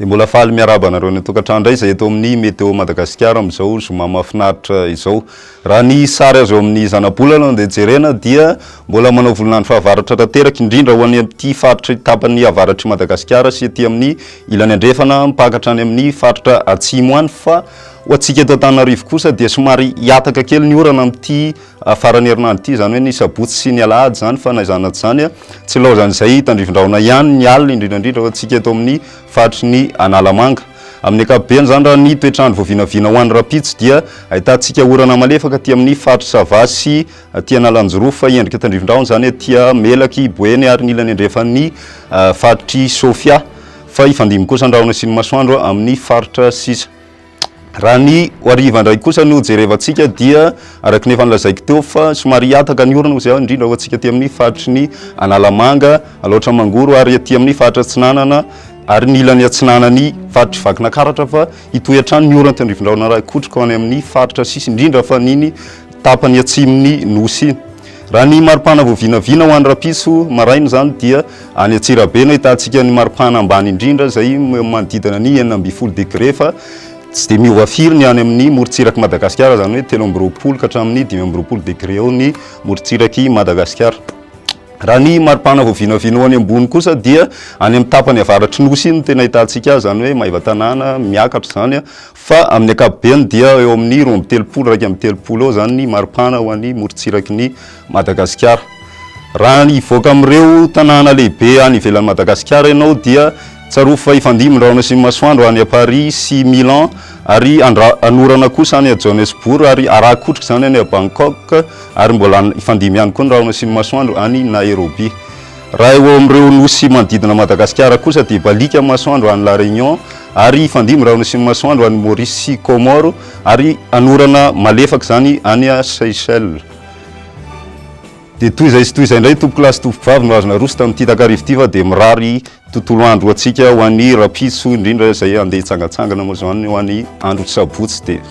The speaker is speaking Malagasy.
mbola faly miaraba anareo ny tokantrano indray izay eto amin'ny météo madagasikara amin'izao zoma mahafinaritra izao raha ny sary azo amin'ny zanabolana dia jerena dia mbola manao volonandro fahavaratra tanteraka indrindra ho any amin'ity faritra tapan'ny avaratr'i madagasikara sy ety amin'ny ilany andrefana mpakatra any amin'ny faritra atsimo any fa Ho antsika eto Antananarivo kosa dia somary hihataka kely ny orana amin'ity faran'ny herinandro ity, izany hoe ny sabotsy sy ny alahady izany, fa na izany na tsy izany, tsy ilaozan'izay tandrivindrahona ihany ny alina, indrindra indrindra ho antsika eto amin'ny faritry ny Analamanga. Amin'ny ankapobeny izany, raha ny toetr'andro vao vinavina ho any rahampitso dia ahitantsika orana malefaka aty amin'ny faritr'i Sava sy aty Analanjirofo, fa endrika tandrivindrahona izany aty Melaky, Boeny ary ny ilany andrefan'ny faritr'i Sofia, fa hifandimby kosa ny rahona sy ny masoandro amin'ny faritra sisa. Raha ny ho hariva indray kosa no jerevantsika dia araka ny efa nolazaiko teo fa somary hihataka ny orana izay indrindra ho antsika aty amin'ny faritry ny Analamanga, Alaotra Mangoro ary aty amin'ny faritra Atsinanana ary ny ilany atsinanan'ny faritr'i Vakinakaratra fa hitohy hatrany ny orana aty Andrifindraona raha hikotroka ho any amin'ny faritra sisa indrindra fa an'iny tapany atsimon'ny Nosy iny. Raha ny maripana vao vinavina ho any Rapiso maraina izany dia any Antsirabe no ahitantsika ny maripana ambany indrindra izay manodidina ny enina ambin'ny folo degré fa tsy dia miova firy ny any amin'ny morontsirak'i Madagasikara izany hoe telo amby roapolo ka hatramin'ny dimy amby roapolo degré eo ny morontsirak'i Madagasikara. Raha ny maripana vao vinavina ho any ambony kosa dia any amin'ny tapany avaratry Nosy iny no tena ahitantsika azy izany hoe Maevatanàna miakatra izany. Fa amin'ny ankapobeny dia eo amin'ny roa amby telopolo, iraika amby telopolo eo izany ny maripana ho an'ny morontsiraky ny Madagasikara. Raha ny hivoaka amin'ireo tanàna lehibe any ivelan'i Madagasikara ianao dia tsarovy fa hifandimby ny rahona sy ny masoandro any à Paris sy Milan ary hanorana kosa any à Johannesburg ary harakotrika izany any à Bangkok ary mbola hifandimby ihany koa ny rahona sy ny masoandro any Nairobi. Raha eo amin'ireo nosy manodidina an'i Madagasikara kosa dia baliaka ny masoandro any La Réunion ary hifandimby ireo nosin'ny masoandro any Maurice sy Comores ary hanorana malefaka izany any Seychelles. Dia toy izay sy toy izay indray tompokolahy sy tompokovavy no azo naroso tamin'ity takariva ity fa dia mirary tontolo andro ho antsika ho an'ny rahampitso indrindra izay handeha hitsangantsangana moa izany ho an'ny andro sabotsy dia